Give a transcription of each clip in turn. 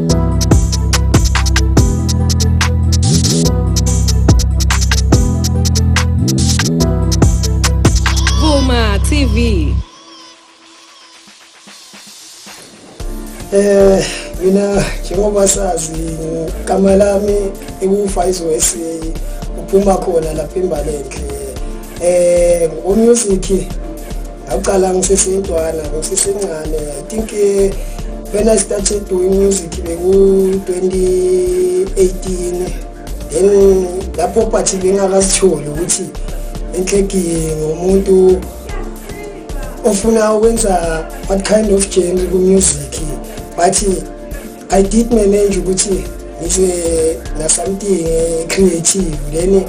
TV. Eh mina njengoba sazi igama lami ikufa izwesi uphuma khona lapha imbalekhe eh ngo music Akuqala ngisesintwana, ngisesincane. I think eh, when I started doing music beku-2018 then lapho phathi bengakazitholi ukuthi enhleki ngomuntu ofuna ukwenza what kind of genre ku-music bathi I did manage ukuthi ngize na something creative then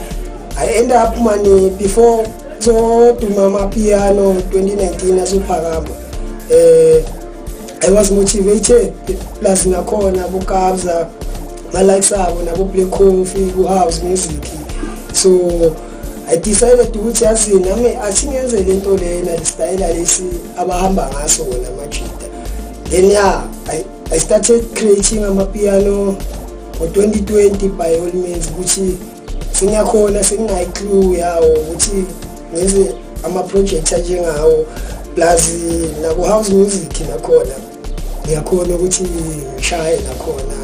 I end up mani before zoduma amapiano 2019 azophakama eh I was motivated plus nakhona bukabza ma likes abo nabo play coffee ku house music so I decided ukuthi yazi nami asingenze lento lena listayela lesi abahamba ngaso wona majita then yeah I I started creating amapiano ngo-2020 by all means ukuthi sengiyakhona senginayi-clue yawo ukuthi ngenze ama-project anjengawo plus naku-house music nakhona ngiyakhona ukuthi ngishaye nakhona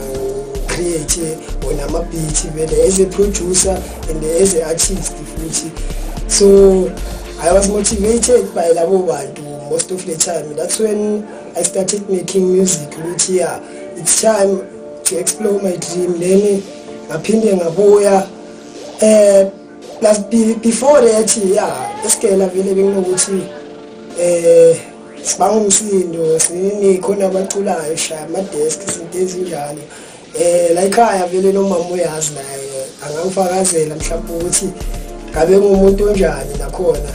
create wona ama-beat vele as a producer and as a artist futhi so i was motivated by labo bantu most of the time that's when I started making music ukuthi ya it's time to explore my dream then ngaphinde ngabuya eh plus before that ya esigela vele benginokuthi eh sibanga umsindo siningi khona abaculayo shaya ama desk izinto ezinjalo Eh la ekhaya vele nomama uyazi naye angangifakazela mhlawumbe ukuthi ngabe ngumuntu onjani nakhona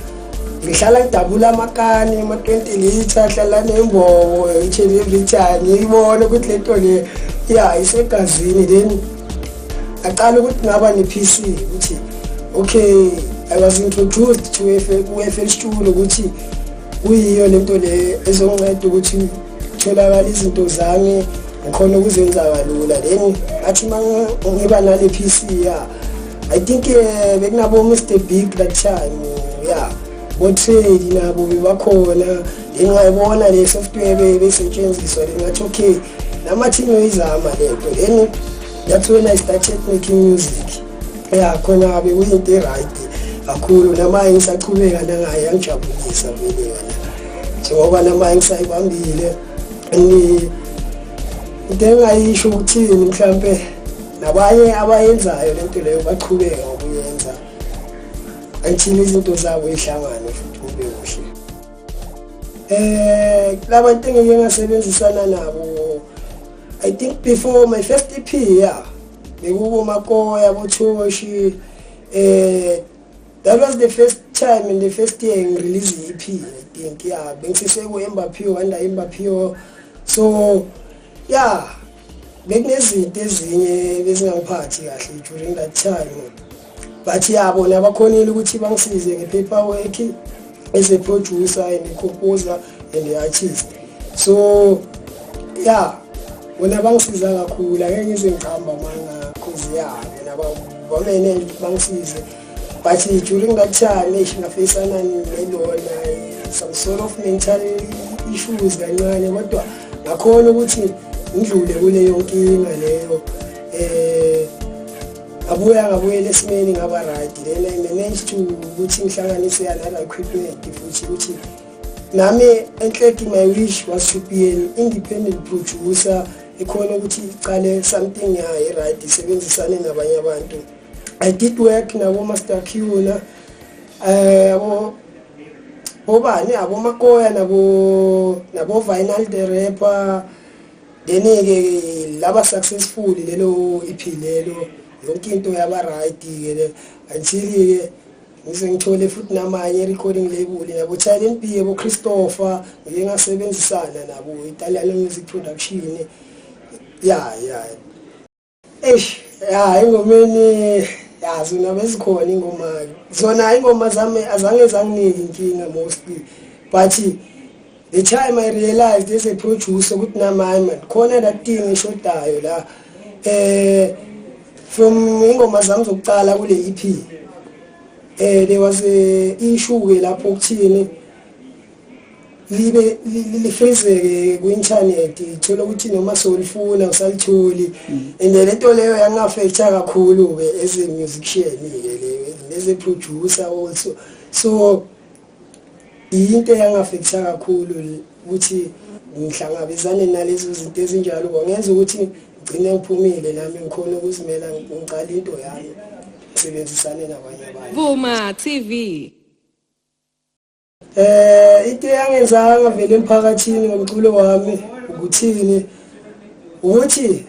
ngihlala ngidabula amakani ama-20 litre ahlala nembobo itsheni evitshani ibone ukuthi le nto le ya isegazini then aqala ukuthi ngaba ne-PC ukuthi okay I was introduced to FL Studio ukuthi kuyiyo lento le ezonceda ukuthi tholakala izinto zami ngikhona ukuzenza kalula then athi uma ngiba nale p c ya i think um eh, bekunabo-mr big that time ya botrade nabo bebakhona then ngayibona le software besetshenziswa then ngathi okay namathi ngiyoyizama le nto then that's when i started making music ya khona kabi kuyinto e-right kakhulu namaye ngisachubeka nangaye yangijabulisa vele yona njengoba namaye ngisayibambile into engayisho ukuthini mhlawumpe nabanye abayenzayo lento leyo bachubeka ngokuyenza until izinto zabo ihlangane futhi kube kuhle eh labantu engeke ngasebenzisana nabo i think before my first ep yeah bekukomakoya kuthoshi eh that was the first time in the first year ngirelease i-EP I think yeah bengisiseko Embapio under Embapio so yeah bekunezinto ezinye bezingangiphathi kahle during that time but ya bona bakhonile ukuthi bangisize nge-paper work as a producer and a composer and a artist so ya bona bangisiza kakhulu ake ngize ngihamba manga cause ya bona bamene bangisize but during that time eish ngafeyisana nelona some sort of mental issues kancane kodwa ngakhona ukuthi ngidlule kuleyo nkinga leyo um abuye angabuyela esimeni ngaba right then i managed to ukuthi ngihlanganise another equipment futhi ukuthi nami enhleki my wish was to be an independent producer ekhona ukuthi iqale something yayo right isebenzisane nabanye abantu i did work nabo master qna eh abo bobani abo makoya nabo nabo vinyl the rapper then ke laba successful lelo iphilelo yonke into yaba right ke le until ke ngize ngithole futhi namanye recording label yabo Challenge B yabo Christopher ngike ngasebenzisana nabo Italian Music Production ya ya Eish, ya ingomeni ya zona bezikhona ingoma zona ingoma zami azange zanginike inkinga mostly but the time i realized as a producer ukuthi namaye man khona that thing eshodayo la eh from ingoma zami zokuqala kule EP eh there was a issue ke lapho ukuthini libe lifezeke kwi-internet thola ukuthi noma solifuna usalitholi mm. and le nto leyo yangafektha kakhulu-ke as a musician-ke le as a producer also so yinto eyangafektha kakhulu ukuthi ngihlangabezane nalezo zinto ezinjalo kwangenza ukuthi ngigcine ngiphumile nami ngikhona ukuzimela ngiqala into yami ngisebenzisane nabanye abantu vuma tv Eh into eyangenzanga vele emphakathini ngomculo wami ukuthini ukuthi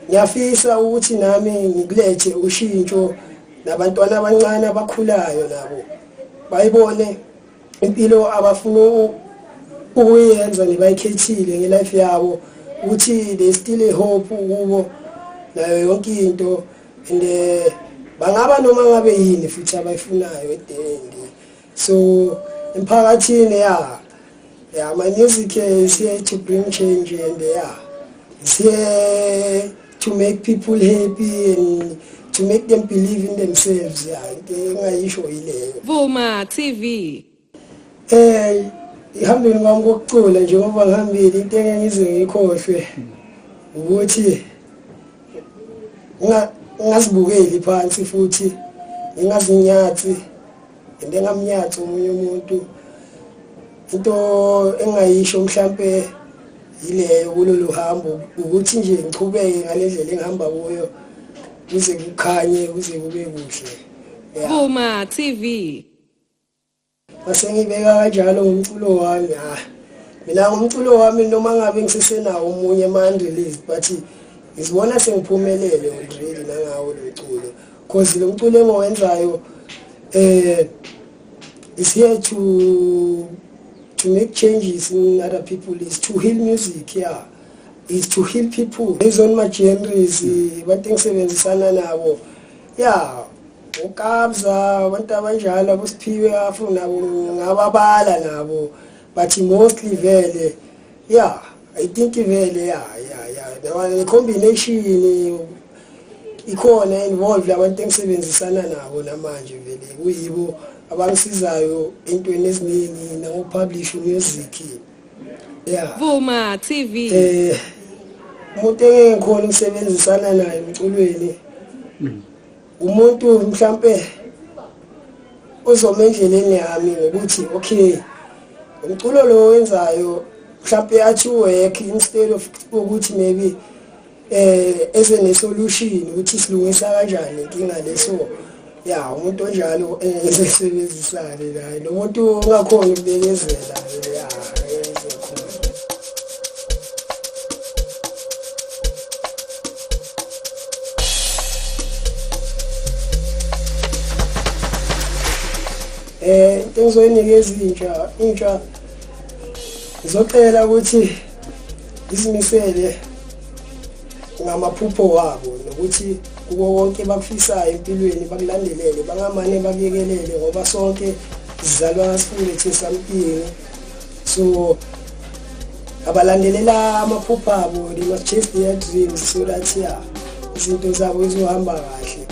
ngiyafisa ukuthi nami ngikulethe ushintsho nabantwana abancane abakhulayo nabo bayibone impilo abafuna ukuyenza nebayikhethile ngelife yabo ukuthi they still a hope kubo nayo yonke into and eh, bangaba noma ngabe yini futhi abayifunayo edeni so emphakathini ya ya my music is here to bring change and ya is here to make people happy and to make them believe in themselves ya into engayisho yileyo Vuma TV eh ihambile ngami kokucula njengoba ngihambile into engeke ngize ngikhohlwe ukuthi ngingazibukeli phansi futhi ngingazinyathi into engamnyathi omunye umuntu into engingayisho mhlampe yileyo kulolu hambo ukuthi nje ngichubeke ngale ndlela engihamba kuyo kuze kukhanye kuze kube kuhle Boma TV Masengibeka kanjalo ngomculo wami ha. Ah, mina ngomculo wami noma ngabe ngisesenawo omunye man release but ngizibona sengiphumelele already nangawo lo mculo because lo mculo engiwenzayo eh is here to to make changes in other people is to heal music yeah is to heal people based on my genres abantu engisebenzisana nabo ya ukabza abantu abanjalo abusiphiwe afuna ngababala nabo but mostly vele ya i think vele ya ya ya the combination ikhona involved abantu engisebenzisana nabo namanje vele kuyibo abangisizayo entweni eziningi nangopublish music yeah vuma tv eh umuntu engikhona ukusebenzisana naye emculweni hmm. umuntu mhlambe uzoma endleleni yami ngokuthi okay umculo lo wenzayo mhlambe athi work instead of ukuthi maybe eh ese ne solution ukuthi silungisa kanjani inkinga leso ya umuntu onjalo esebenzisane eh, naye nomuntu ongakhona ukubekezela ya eh into engizoyinikeza intsha intsha ngizocela ukuthi izimisele ngamaphupho wabo nokuthi kuko konke bakufisayo empilweni bakulandelele bangamane bakuyekelele ngoba sonke sizalwana sifunde thi something so abalandelela amaphupho abo they must chase their dreams so that ya izinto zabo zizohamba kahle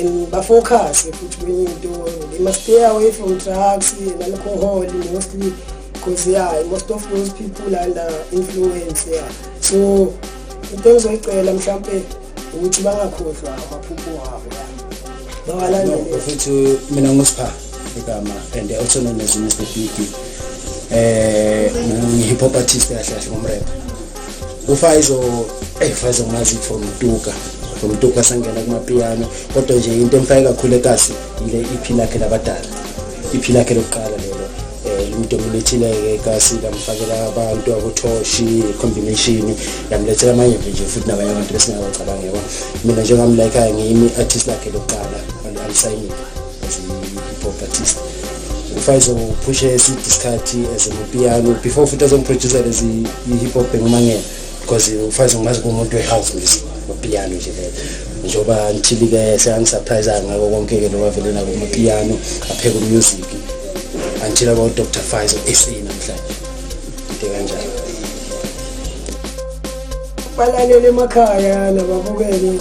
and bafocuse futhi kwenye into they must stay away from drugs and alcohol mostly because yeah most of those people under influence yeah so into engizoyicela mhlawumbe ukuthi bangakhohlwa amaphupho wabo bawalandele futhi mina ngusipha igama and also known as Mr. Beauty eh ngi hip hop artist kahle kahle ngomrepha ufaizo eyi faizo ngazi from tuka from tuka sangena kumapiyano kodwa nje into emfake kakhulu ekasi yile iphi lakhe labadala iphi lakhe lokuqala lelo um umuntu omulethile-ke ekasi lamfakela abantu abothoshi combination lamlethela amanye nje futhi nabanye abantu besingabacabangekwa mina njengamlayikhayo ngiyimi-artist lakhe lokuqala alisayinile properties ufaizo uphushe eside isikhathi as amapiano before futhi azomproducer as i-hip hop engumangela because ufaizo ngazi kumuntu we-house music amapiano nje leyo njengoba ngithili-ke seyangisurprise ngako konke-ke lo wavele nako amapiano apheka umusic until about dr faizo sa namhlanje into kanjalo balalele emakhaya nababukele